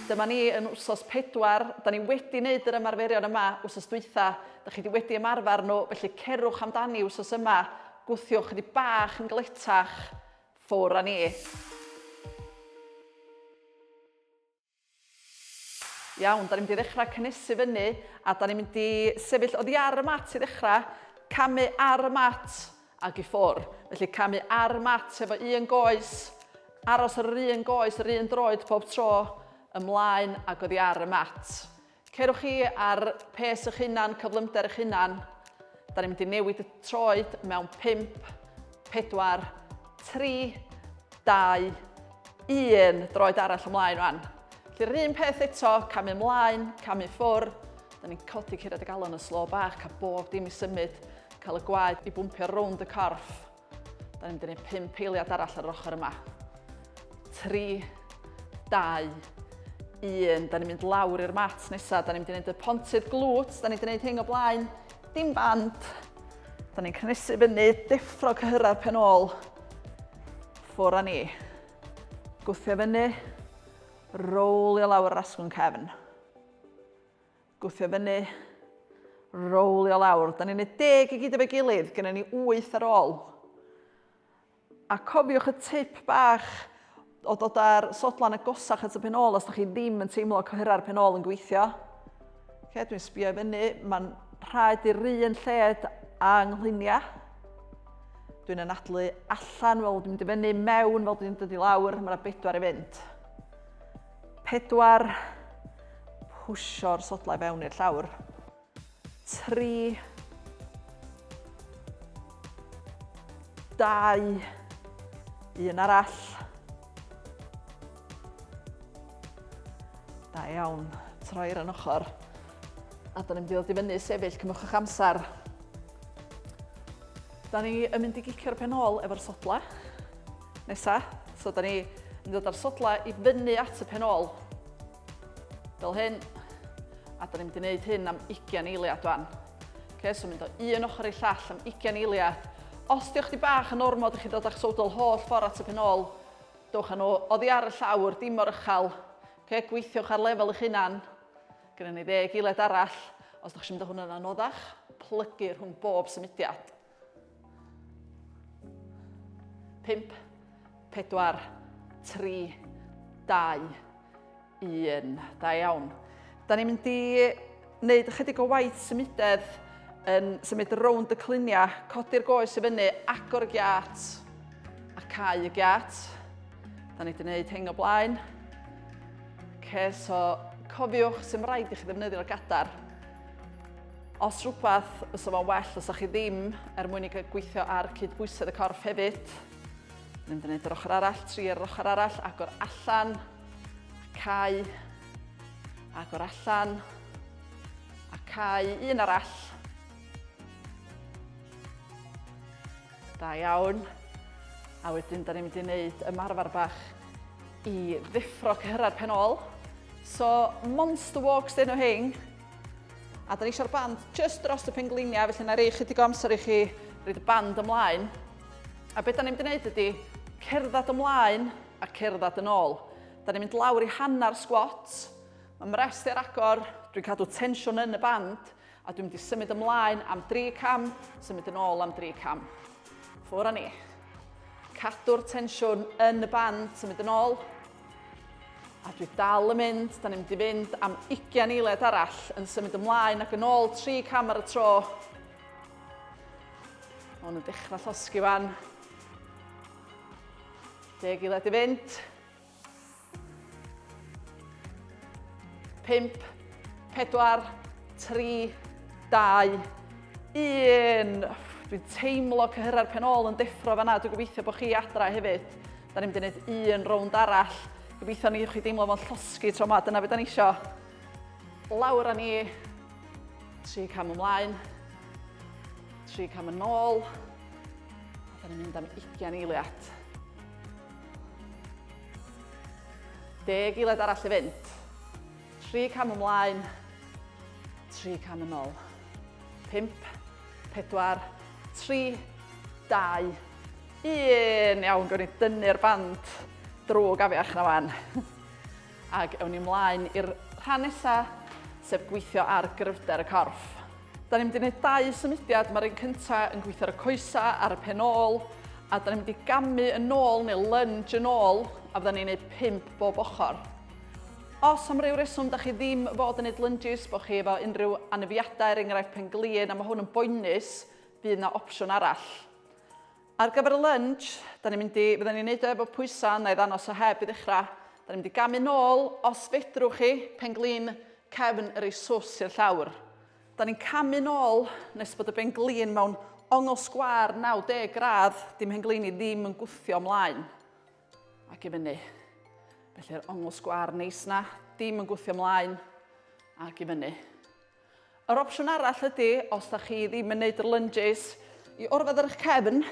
Dyma ni yn wsos pedwar. Da ni wedi wneud yr ymarferion yma wsos dwytha. Da chi wedi wedi ymarfer nhw, felly cerwch amdani wsos yma. Gwthiwch ydi bach yn gletach. Ffwr a ni. Iawn, dan ni'n mynd i ddechrau cynnesu fyny a dan ni'n mynd i sefyll oddi ar y mat i ddechrau, camu ar y mat ac i ffwrdd. Felly camu ar y mat efo un goes, aros ar yr un goes, yr un droed pob tro, ymlaen ac oddi ar y mat. Cerwch chi ar pes eich hunan, cyflymder eich hunan. Da ni'n mynd i newid y troed mewn 5, 4, 3, 2, 1. Droed arall ymlaen rwan. Felly yr un peth eto, camu ymlaen, camu ffwr. Da ni'n codi curiad y galon yn slo bach, cael bob dim i symud, cael y gwaed i bwmpio rownd y corff. Da ni'n mynd i wneud pum peiliad arall ar yr ochr yma. Tri, dau, un. Da ni'n mynd lawr i'r mat nesaf. Da ni'n mynd i wneud y pontydd glwt. Da ni'n mynd i wneud hyn o blaen. Dim band. Da ni'n cynnesu fyny, deffro cyhyrra'r pen ôl. Ffwr a ni. Gwthio fyny. Rowlio lawr yr asgwrn cefn. Gwthio fyny. Rowlio lawr. Da ni'n neud deg i gyd efo'i gilydd, gynna ni wyth ar ôl. A cofiwch y tip bach o dod â'r sodlan agosach at y pen ôl os da chi ddim yn teimlo cohera'r pen ôl yn gweithio. Okay, dwi'n sbio i fyny, mae'n rhaid i'r un lled a nghluniau. Dwi'n anadlu allan fel dwi'n mynd i fyny, mewn fel dwi'n dod i lawr, mae yna bedwar i fynd. 4 pwsio'r sodlau fewn i'r llawr. 3 2 un arall. Da iawn, troi'r yn ochr. A da ni'n mynd i ddod i fyny sefyll, cymwch eich amser. Da ni yn mynd i gicio'r pen ôl efo'r sodla. Nesa, so da ni yn dod â'r sodlau i fyny at y pen ôl. Fel hyn. A da ni'n mynd i wneud hyn am 20 eiliad fan. Okay, so mynd o un ochr i llall am 20 eiliad. Os diolch di bach yn ormod i chi ddod â'ch sodl holl ffordd at y pen ôl, dewch â nhw oddi ar y llawr, dim o'r ychal. Okay, gweithiwch ar lefel eich hunan. Gynnu ni ddeg eiliad arall. Os ydych chi'n mynd o hwn yn anoddach, plygu rhwng bob symudiad. Pump, pedwar, tri, dau, un. Da iawn. Da ni'n mynd i wneud ychydig o waith symudedd yn symud rownd y cluniau, codi'r goes i fyny, agor y giat a cau y giat. Da ni wedi gwneud hyn o blaen. Okay, so cofiwch sy'n rhaid i chi ddefnyddio'r gadar Os rhywbeth, fysa fo'n well os chi ddim er mwyn i gael gweithio ar cydbwysedd y corff hefyd. Mynd yn yr ochr arall, tri ar yr ochr arall, agor allan, a cau, agor allan, a cau, un arall, Da iawn. A wedyn, da ni'n mynd i wneud ymarfer bach i ddeffro cyhyrau'r pen ôl. So, monster walks dyn nhw hyn. A da ni eisiau'r band just dros y pengliniau, felly na rei chydig o amser i chi roed y band ymlaen. A beth da ni'n mynd i wneud ydy cerdded ymlaen a cerdded yn ôl. Da ni'n mynd lawr i hanner squats. Mae mrest ar agor, dwi'n cadw tensiwn yn y band. A dwi'n mynd i symud ymlaen am dri cam, symud yn ôl am dri cam. Ffwr a ni. Cadw'r tensiwn yn y band, symud yn ôl. A dwi dal yn mynd, da ni'n mynd i fynd am 20 eiliad arall yn symud ymlaen ac yn ôl tri cam ar y tro. Mae hwn yn dechrau llosgi fan. Deg eiliad i fynd. 5, 4, 3, 2, 1. Dwi'n teimlo cyhyrra'r pen ôl yn deffro fanna. Dwi'n gobeithio bod chi adra hefyd. Da ni'n mynd i wneud un rownd arall. Gobeithio ni chi deimlo fo'n llosgi tro yma. Dyna beth da ni isio. Lawr â ni. Tri cam ymlaen. Tri cam yn ôl. Da ni'n mynd am 20 eiliad. Deg eiliad arall i fynd. Tri cam ymlaen. Tri cam yn ôl. Pimp. Pedwar. Tri. Dau. Un. Iawn, gwn i dynnu'r band drwg afiach na fan. Ac ewn ni ymlaen i'r rhan nesaf, sef gweithio ar gryfder y corff. Da ni'n mynd i wneud dau symudiad, mae'r un cyntaf yn gweithio ar y coesa ar y pen ôl, a da ni'n mynd i gamu yn ôl neu lunge yn ôl, a fydda ni'n gwneud pimp bob ochr. Os am ryw reswm da chi ddim fod yn gwneud lunges, bod chi efo unrhyw anafiadau, er enghraifft pen glin, a mae hwn yn boenus, bydd yna opsiwn arall. Ar gyfer y lunch, da ni'n mynd i, fydden ni'n neud o efo pwysa, na i ddanos o heb i ddechra. Da ni'n mynd i gamu nôl, os fedrwch chi, pen-glin cefn yr ei swss i'r llawr. Da ni'n camu nôl nes bod y ben-glin mewn ongl sgwâr 90 gradd, dim hen-glin i ddim yn gwthio mlaen ac i fyny. Felly'r ongl sgwâr neis na, dim yn gwthio mlaen ac i fyny. Yr opsiwn arall ydy, os da chi ddim yn neud yr lunges, i orfod ar eich cefn,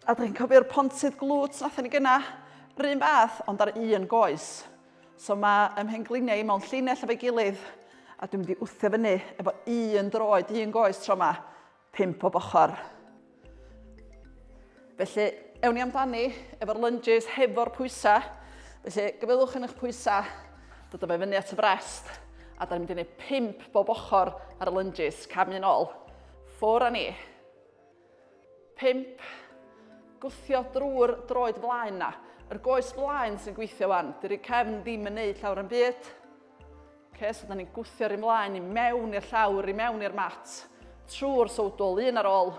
a da chi'n cofio'r pontydd glwt nathon ni gyna, run fath ond ar un goes. So mae ym mhengliniau i mewn llinell efo'i gilydd, a dwi'n mynd i wthio fyny efo un droed, un goes tro yma, 5 pob ochr. Felly, ewn ni amdani efo'r lunges hefo'r pwysau. Felly, gyfylwch yn eich pwysau, dod o fe fyny at y brest, a da ni'n mynd i wneud 5 bob ochr ar y lunges, cam un ôl. Ffwr a ni. 5. Gwthio drwy'r droed flaen na. Yr goes flaen sy'n gweithio wan. Dy'r cefn ddim yn neud llawer yn byd. Okay, so da ni'n gwthio'r un mlaen i mewn i'r llawr, i mewn i'r mat, trwy'r sowdol, un ar ôl,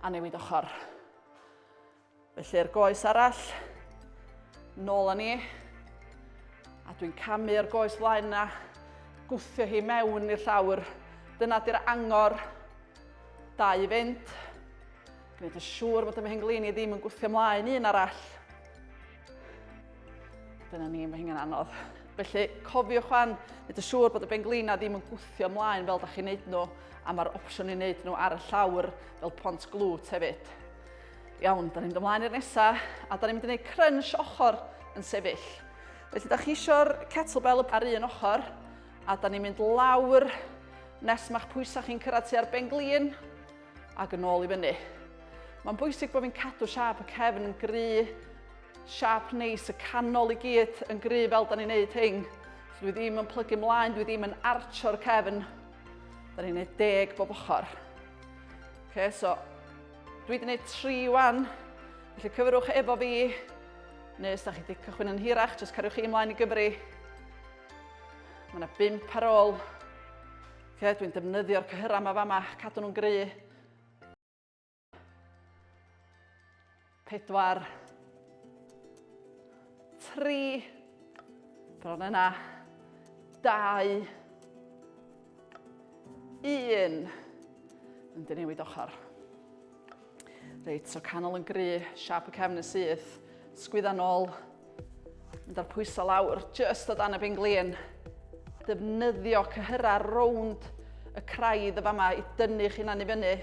a newid ochr. Felly'r goes arall, nôl â ni, a dwi'n camu'r goes flaen na, gwthio hi mewn i'r llawr. Dyna di'r angor, da i fynd. Gwneud yn siŵr bod y mhenglin i ddim yn gwthio mlaen un arall. Dyna ni, mae hynny'n anodd. Felly, cofiwch fan, nid y siŵr bod y benglina ddim yn gwthio ymlaen fel da chi'n neud nhw, a mae'r opsiwn i wneud nhw ar y llawr fel pont glwt hefyd. Iawn, da ni'n mynd ymlaen i'r nesaf, a da ni'n mynd i wneud crunch ochr yn sefyll. Felly, da chi eisiau'r kettlebell ar un ochr, a da ni'n mynd lawr nes mae'ch pwysau chi'n cyrraedd tua'r benglin, Ac yn ôl i fyny. Mae'n bwysig bod fi'n cadw siap y cefn yn gry, siap neis y canol i gyd yn gry fel da ni'n neud hyn. So dwi ddim yn plygu mlaen, dwi ddim yn archo'r cefn. Da ni'n neud deg bob ochr. Okay, so dwi wedi neud tri wan, felly cyfrwch efo fi, neu os da chi wedi cychwyn yn hirach, jyst cariwch chi ymlaen i gyfri. Mae yna bimp ar ôl. Oce, dwi'n defnyddio'r cyhyrau yma fama, cadw nhw'n gry. Pedwar. Tri. Bron yna. Dau. Un. Yn dynewid ochr. Reit, so canol yn gry, siap y cefn yn syth, sgwydda nôl, mynd â'r pwysau lawr, just o dan y benglin. Defnyddio cyhyra rownd y craidd y fama i dynnu chi na'n i fyny.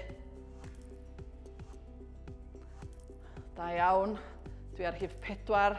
Da iawn, dwi ar hif pedwar.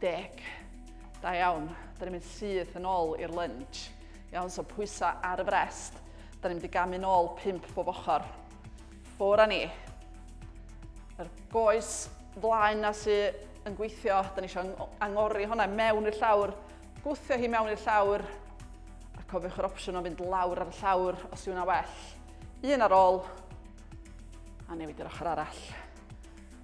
Dec. Da iawn. Da ni'n mynd syth yn ôl i'r lunge. Iawn, so pwysau ar y frest. Da ni'n mynd i gamu'n ôl pimp bob ochr. Ffwr a ni. Yr goes flaen na sydd yn gweithio, da ni eisiau angori hwnna mewn i'r llawr, gwthio hi mewn i'r llawr, a cofiwch yr opsiwn o fynd lawr ar y llawr os yw'n well. Un ar ôl, a newid i'r ochr arall.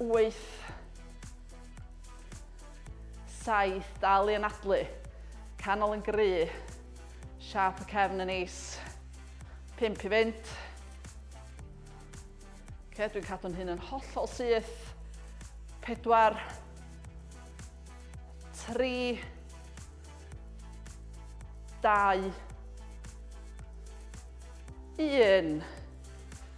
wyth, saith, dal i anadlu, canol yn gry, siap y cefn yn is, pimp i fynd. Okay, dwi'n cadw'n hyn yn hollol syth, pedwar, tri, dau, un.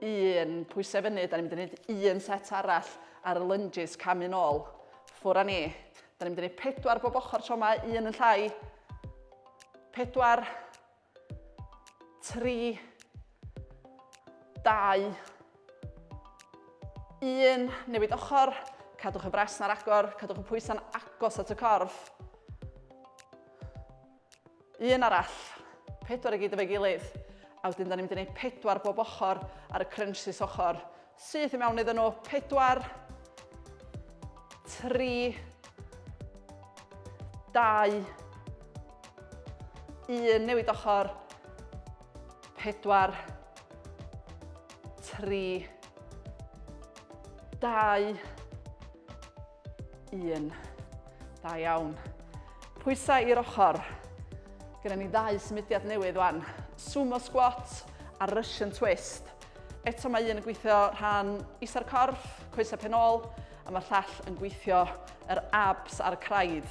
un pwysau fyny, da ni'n mynd i wneud un set arall ar y lunges camu nôl. Ffwr a ni. Da ni'n mynd i wneud pedwar bob ochr tro yma, un yn llai. Pedwar, tri, dau, un, newid ochr, cadwch y bres na'r agor, cadwch y pwysau'n agos at y corff. Un arall. Pedwar i gyd efo'i gilydd. A wedyn da ni'n mynd i wneud pedwar bob ochr ar y crunches ochr. Syth i mewn iddyn nhw. Pedwar. Tri. Dau. Un. Newid ochr. Pedwar. Tri. Dau. Un. Da iawn. Pwysau i'r ochr. Gyda ni ddau symudiad newydd wan. Sumo squat a Russian twist. Eto mae un yn gweithio rhan isa'r corff, coesau penol, a mae'r llall yn gweithio yr abs a'r craidd.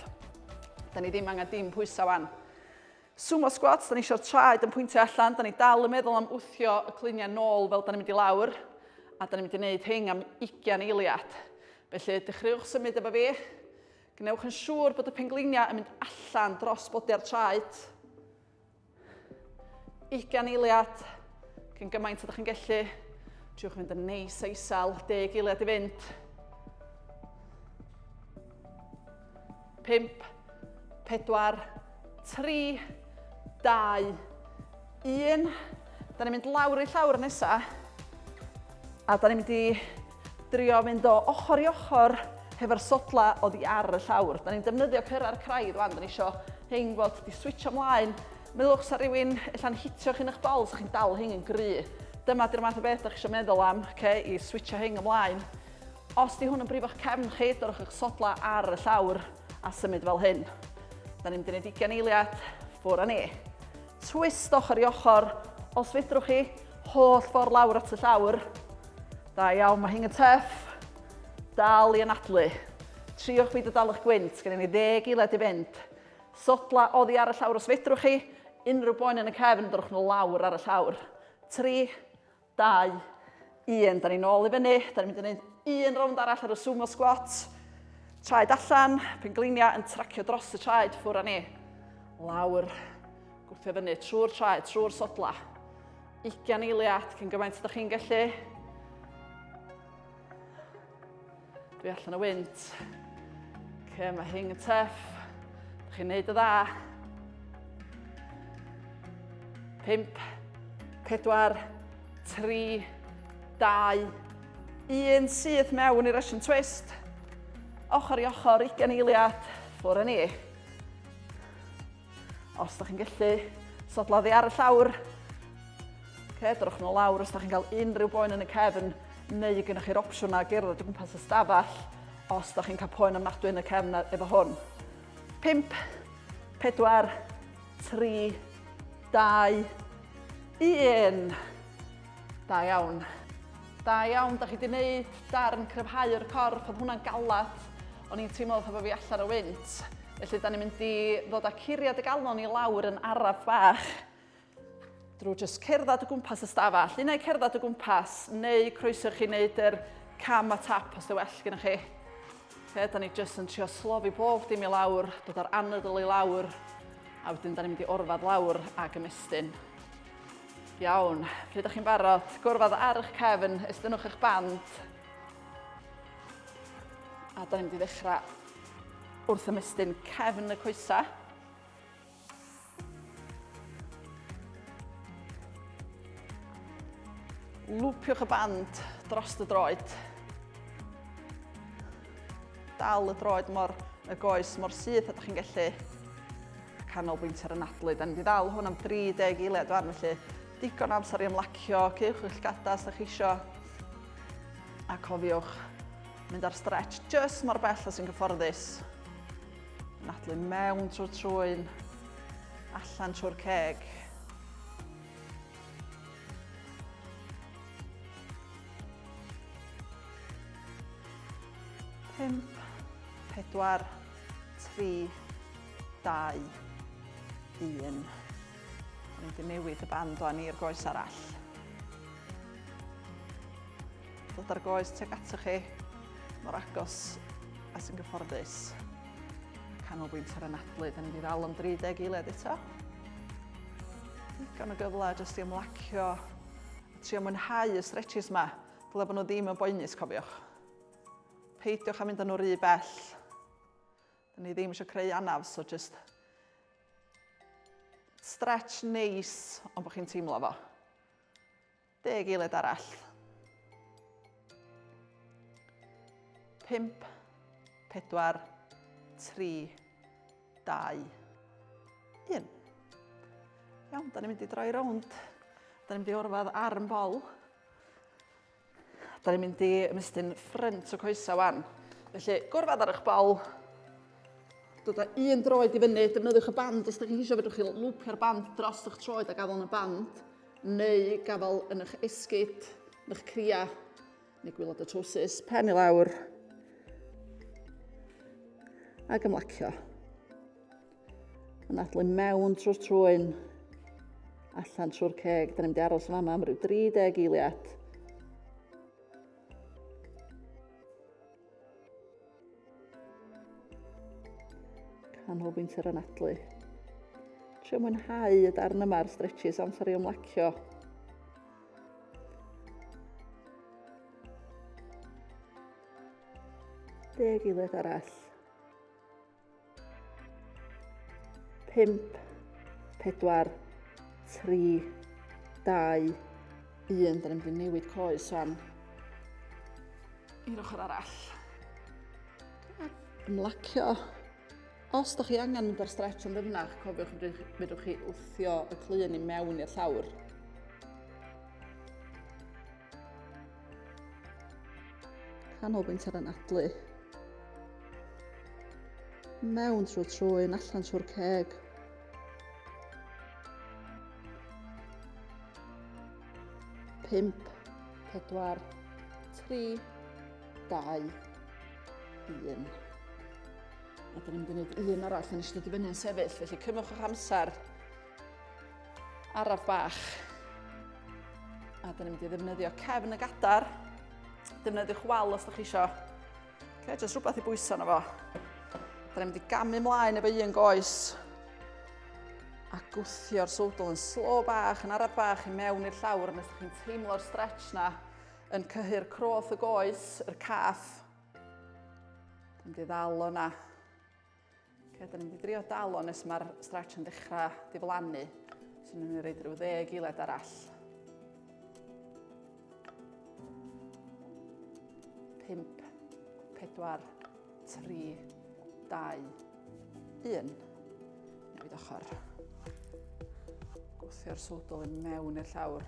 Da ni ddim angen dim pwysau wan. Sumo squats, da ni eisiau'r traed yn pwyntio allan, da ni dal yn meddwl am wthio y cluniau nôl fel da ni'n mynd i lawr, a da ni'n mynd i wneud hyn am 20 eiliad. Felly, dechreuwch symud efo fi. Gwnewch yn siŵr bod y pengliniau yn mynd allan dros bodi'r traed. 20 eiliad, cyn gymaint ydych chi'n gallu. Triwch fynd yn neis a isel, 10 eiliad i fynd. 5, 4, 3, 2, 1. Da ni'n mynd lawr i llawr nesa. A da ni'n mynd i drio fynd o ochr i ochr hefo'r sodla o ddi ar y llawr. Da ni'n defnyddio cyrra'r craidd wan, da ni isio hyn fod di switcho mlaen. Meddwch sa rhywun allan hitio chi'n eich bol, sa chi'n dal hyn yn gry. Dyma di'r math o beth da chi eisiau meddwl am, okay, i switcho hyn ymlaen. Os di hwn yn brifo'ch cefn chi, dyrwch eich sodlau ar y llawr a symud fel hyn. Da ni'n mynd i wneud ugain eiliad, ffwr a ni. Twist ochr i ochr, os fedrwch chi, holl ffordd lawr at y llawr. Da iawn, mae hyn yn tuff. Dal i anadlu. Triwch byd o dal eich gwynt, gen i ni ddeg eiliad i fynd. Sodla oddi ar y llawr os fedrwch chi, unrhyw boen yn y cefn, dyrwch nhw lawr ar y llawr. Tri, 2, 1, da ni'n ôl i fyny, da ni'n mynd i wneud un rownd arall ar y sumo squat, traed allan, penglinia yn tracio dros y traed ffwr â ni, lawr, gwthio fyny trwy'r traed, trwy'r sodla, 20 eiliad cyn gymaint ydych chi'n gallu, Dwi allan o wynt. Ce, mae hyn yn teff. Dych chi'n neud y dda. Pimp, pedwar, tri, dau, un syth mewn i'r Russian twist. Ochr i ochr, ugen eiliad, ffwr ni. Os da chi'n gallu sodla ddi ar y llawr, okay, drwch nhw lawr os da chi'n cael unrhyw boen yn y cefn, neu y gynnwch chi'r opsiwn na gerdded o gwmpas y stafell, os da chi'n cael poen ymnadwy yn y cefn efo hwn. 5, 4, 3, 2, 1. Da iawn. Da iawn, da chi wedi gwneud darn cryfhau'r corff, oedd hwnna'n galad. O'n i'n teimlo fatha bod fi allan o wynt. Felly, da ni'n mynd i ddod â curiad y galon i lawr yn araf bach. Drwy jyst cerdded o gwmpas y stafell. Un neu cerdded o gwmpas, neu croeso chi wneud yr cam a tap os dy well gyda chi. Fe, da ni jyst yn trio slofi bob dim i lawr, dod o'r anadl i lawr, a wedyn da ni'n mynd i orfad lawr ac ymestyn. Iawn, pryd ydych chi'n barod? Gwrfod ar eich cefn, estynnwch eich band. A da ni'n mynd i ddechrau wrth ymestyn cefn y coesau. Lwpiwch y band dros y droed. Dal y droed mor y goes mor syth a da chi'n gallu. Canolbwyntio ar y nadlu. Da ni wedi ddal hwn am 30 eiliad fan, felly digon amser i ymlacio, cewch eich gada os da chi isio. A cofiwch mynd ar stretch just mor bell os sy'n gyfforddus. Nadlu mewn trwy'r trwy'n allan trwy'r ceg. Pump, pedwar, tri, dau, un. Rwy'n di newid y band o'n i'r goes arall. Dod ar goes teg atoch chi, mor agos a sy'n gyfforddus. Canolbwynt ar y nadlu, da ni wedi ddal am 30 eiled eto. Digon o gyfle jyst i ymlacio Trio mwynhau y stretches 'ma, dyle bod nhw ddim yn boenus cofiwch. Peidiwch â mynd â nhw rhy bell. Dyn ni ddim eisiau creu anaf, so just stretch neis ond bod chi'n teimlo fo. Deg eiliad arall. Pimp, pedwar, tri, 2. 1. Iawn, da ni'n mynd i droi rownd. Da ni'n mynd i orfod arm bol. Da ni'n mynd i ymestyn ffrynt o coesau wan. Felly, gorfod ar eich bol. Dod â un droed i fyny, defnyddiwch y band os da chi'n eisiau fedrwch chi lwpio'r band dros eich troed a gafael yn y band, neu gafael yn eich esgyd, yn eich cria, Neu gwylod y trwsus, pen i lawr ac ymlacio. Yn adlu mewn trwy'r trwyn, allan trwy'r ceg. Da ni'n mynd i aros yma am rhyw 30 eiliad. Canolbwynt yr anadlu. Trio mwynhau y darn yma ar stretches amser i ymlacio. Deg eiliad arall. 5, 4, 3, 2, 1. Dyna mynd i newid coes fan. I'r ochr arall. Ymlacio. Os da chi angen mynd ar stretch yn ddyfnach, cofiwch fedrwch chi wthio y clun i mewn i'r llawr. Canolbwynt ar anadlu. Mewn trwy trwyn, allan trwy'r ceg. Pimp, pedwar, tri, dau, un. A dyn ni'n mynd i wneud un arall yn ystod i fyny'n sefyll, felly cymwch o'ch amser. Araf bach. A dyn ni'n mynd i ddefnyddio cefn y gadar. Defnyddiwch wal os da chi isio. Okay, just rhywbeth i bwyso na fo. Dyn ni'n mynd i gamu mlaen efo un goes. A gwthio'r sodl yn slo bach, yn araf bach i mewn i'r llawr. Nes chi'n teimlo'r stretch na yn cyhyr croth y goes, yr caff. Dyn ni'n mynd i ddal o'na. Okay, da ni'n mynd i drio dal o'n nes mae'r stretch yn dechrau diflannu. So ni'n mynd i reid rhyw ddeg iled arall. 5, 4, 3, 2, 1. Newid ochr. Gwthio'r sodol yn mewn i'r llawr.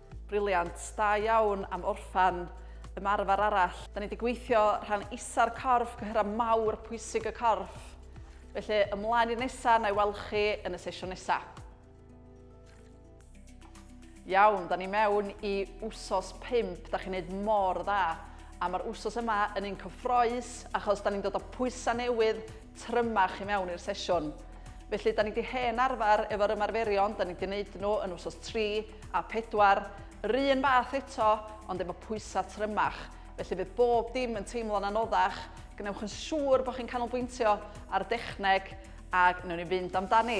Briliant, da iawn am orffan ymarfer arall. Da ni wedi gweithio rhan isa'r corff, cyhyrau mawr pwysig y corff. Felly ymlaen i'r nesaf, na i weld chi yn y sesiwn nesaf. Iawn, da ni mewn i wsos 5, da chi'n neud mor dda. A mae'r wsos yma yn un cyffroes achos da ni'n dod o pwysau newydd, trymach i mewn i'r sesiwn. Felly, da ni wedi hen arfer efo'r ymarferion, da ni wedi gwneud nhw yn wsos 3 a 4, yr un fath eto, ond efo pwysau trymach. Felly fydd bob dim yn teimlo'n anoddach, gwnewch yn siŵr bod chi'n canolbwyntio ar y dechneg a wnewn ni fynd amdani.